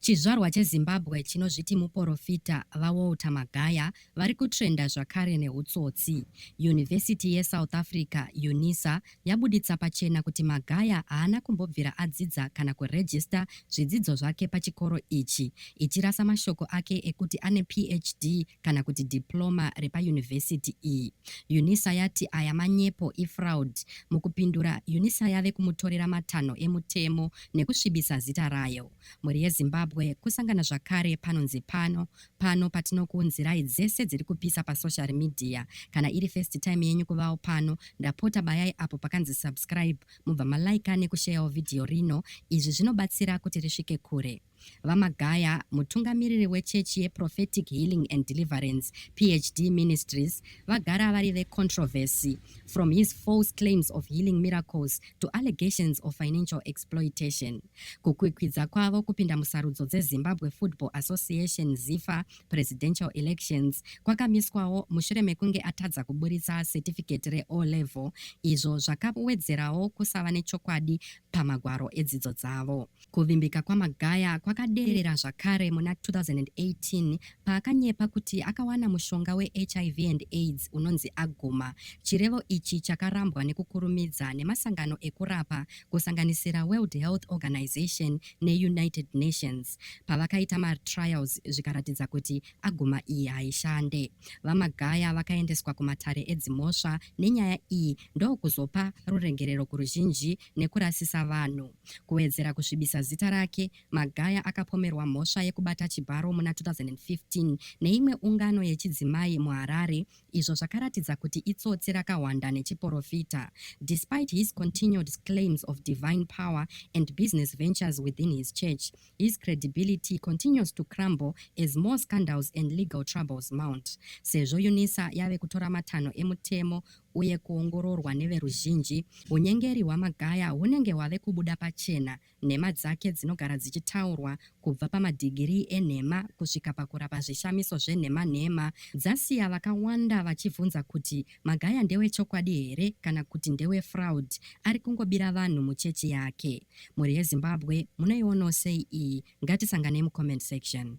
Chizvarwa cheZimbabwe chinozviti muporofita, VaWalter Magaya, vari kutrenda zvakare nehutsotsi. Yunivhesiti yeSouth Africa, Unisa, yabuditsa pachena kuti Magaya haana kumbobvira adzidza kana kurejista zvidzidzo zvake pachikoro ichi, ichirasa mashoko ake ekuti ane PHD kana kuti diploma repayunivhesiti iyi. Unisa yati aya manyepo, ifraud. Mukupindura, Unisa yave kumutorera matanho emutemo nekusvibisa zita rayo. Mhuri yeZimbabwe kusangana zvakare panonzi pano, pano patinokuunzirai dzese dziri kupisa pasocial media. Kana iri first time yenyu kuvawo pano, ndapota bayai apo pakanzi subscribe mubva malaika nekusheyawo vhidhiyo rino, izvi zvinobatsira kuti risvike kure. VaMagaya, mutungamiriri wechechi yeProphetic Healing and Deliverance, PHD Ministries, vagara vari vecontroversy from his false claims of healing miracles to allegations of financial exploitation. Kukwikwidza kwavo kupinda musarudzo dzeZimbabwe Football Association, ZIFA, presidential elections kwakamiswawo mushure mekunge atadza kuburitsa certificate reO level izvo zvakawedzerawo kusava nechokwadi pamagwaro edzidzo dzavo. Kuvimbika kwaMagaya kwakaderera zvakare muna 2018 paakanyepa kuti akawana mushonga weHIV and aids unonzi Aguma. Chirevo ichi chakarambwa nekukurumidza nemasangano ekurapa kusanganisira World Health Organization neUnited Nations pavakaita matrials zvikaratidza kuti Aguma iyi haishande. VaMagaya vakaendeswa kumatare edzimhosva nenyaya iyi ndokuzopa ruregerero kuruzhinji nekurasisa vanhu. Kuwedzera kusvibisa zita rake, Magaya akapomerwa mhosva yekubata chibharo muna 2015 neimwe ungano yechidzimai muHarare izvo zvakaratidza kuti itsotsi rakahwanda nechiporofita. Despite his continued claims of divine power and business ventures within his church, his credibility continues to crumble as more scandals and legal troubles mount. Sezvo UNISA yave kutora matanho emutemo uye kuongororwa neveruzhinji, hunyengeri hwaMagaya hunenge hwave kubuda pachena, nhema dzake dzinogara dzichitaurwa, kubva pamadhigirii enhema kusvika pakurapa zvishamiso zvenhema nhema, dzasiya vakawanda vachivhunza kuti Magaya ndewechokwadi here kana kuti ndewe fraud ari kungobira vanhu muchechi yake. Mhuri yeZimbabwe munoionawo sei iyi? Ngatisanganei mucomment section.